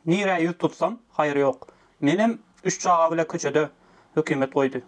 Nirä ýüz tutsam, haýyr ýok. Menem üç çaga bile köçede hökümet goýdy.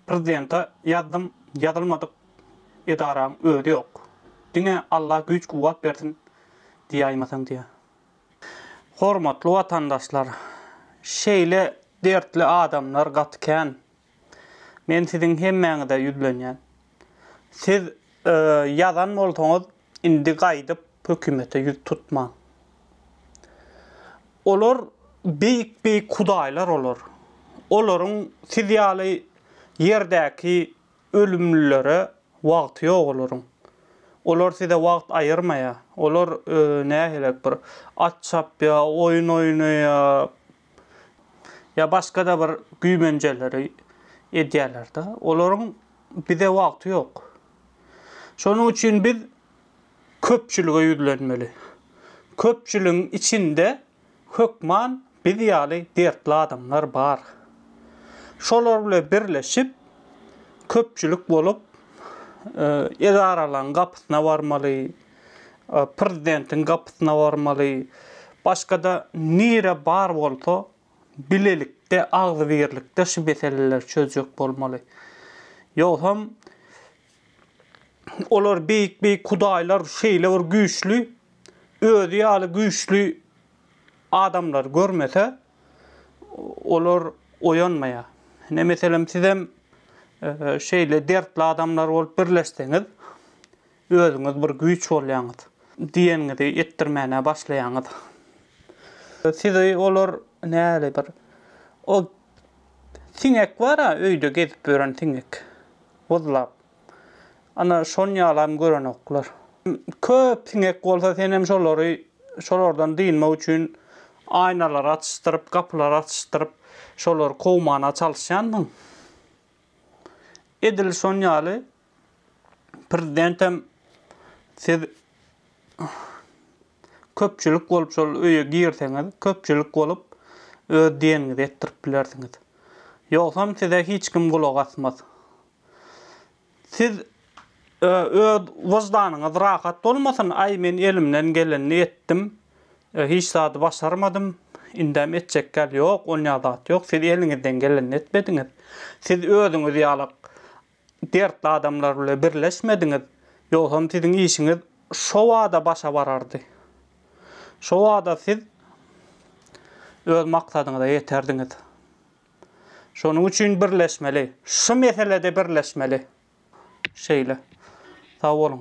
Prezidente ýazdym, ýazylmadyk edaraň özi ýok. Diňe Alla güýç-kuwwat bersin diýäýmeseň diýýär. Hormatly watandaşlar, şeýle dertli adamlar gaty kän. Men siziň hemmäňize ýüzlenýän. Siz ýazan bolsaňyz, Indi gaýdyp hökümete ýüz tutmaň. Olar beýik-beýik hudaýlar olar. Olaryň siz ýaly ýerdäki ölümlilere wagty ýok olaryň. Olar size wagt aýyrmaýar. Olar nähilek bir at çapýar, oýun oýnaýar, ýa başga-da bir güýmenjeleri edýärler-de. Olaryň bize wagty ýok. Şonuň üçin biz köpçülige ýüzlenmeli. Köpçüligiň içinde hökman biz ýaly dertli adamlar bar. Şolar bilen birleşip, köpçülik bolup, edaralaryň gapysyna barmaly. Prezidentiň gapysyna barmaly, başga-da nire bar bolsa, bilelikde, agzybirlikde şu meseleleri çözjek bolmaly. Ýogsam, olar beýik-beýik hudaýlar şeýle bir güýçli, özi ýaly güýçli adamlary görmese, olar oýanmaýar. Ine, meselem, sizem şeýle dertli adamlar bolup birleşseňiz, Özüňiz bir güýç bolýaňyz. Diýeniňizi etdirmäne başlaýaňyz. Sizi olar näli bir o siňek bar-a, öýde gezip ýören siňek. Wyzlap. Ana, şony ýalam görenoklar. Köp siňek bolsa senem şolary şolardan dynmak üçin aýnalary açyşdyryp, gapylary açyşdyryp, şolary kowmana çalyşýanmyň? Edil şon ýaly Prezidentem siz köpçülik bolup şol öýe girseňiz, köpçülik bolup öz diýeniňizi etdirip bilersiňiz. Ýogsam size hiç kim gulak asmaz. Siz öz wyždanyňyz rahat bolmasyn, aý men elimden gelenini etdim, hiç zady başarmadym, indem etjekgäl ýok, onýa zat ýok, siz eliňizden gelenini etmediňiz. Siz özüňiz ýalak dertli adamlar bile birleşmediňiz, ýogsam siziň işiňiz şo bada başa barardy. Şo bada siz öz maksadyňyza ýeterdiňiz. Şonuň üçin birleşmeli. Şu meselede birleşmeli. Şeýle. Sag boluň.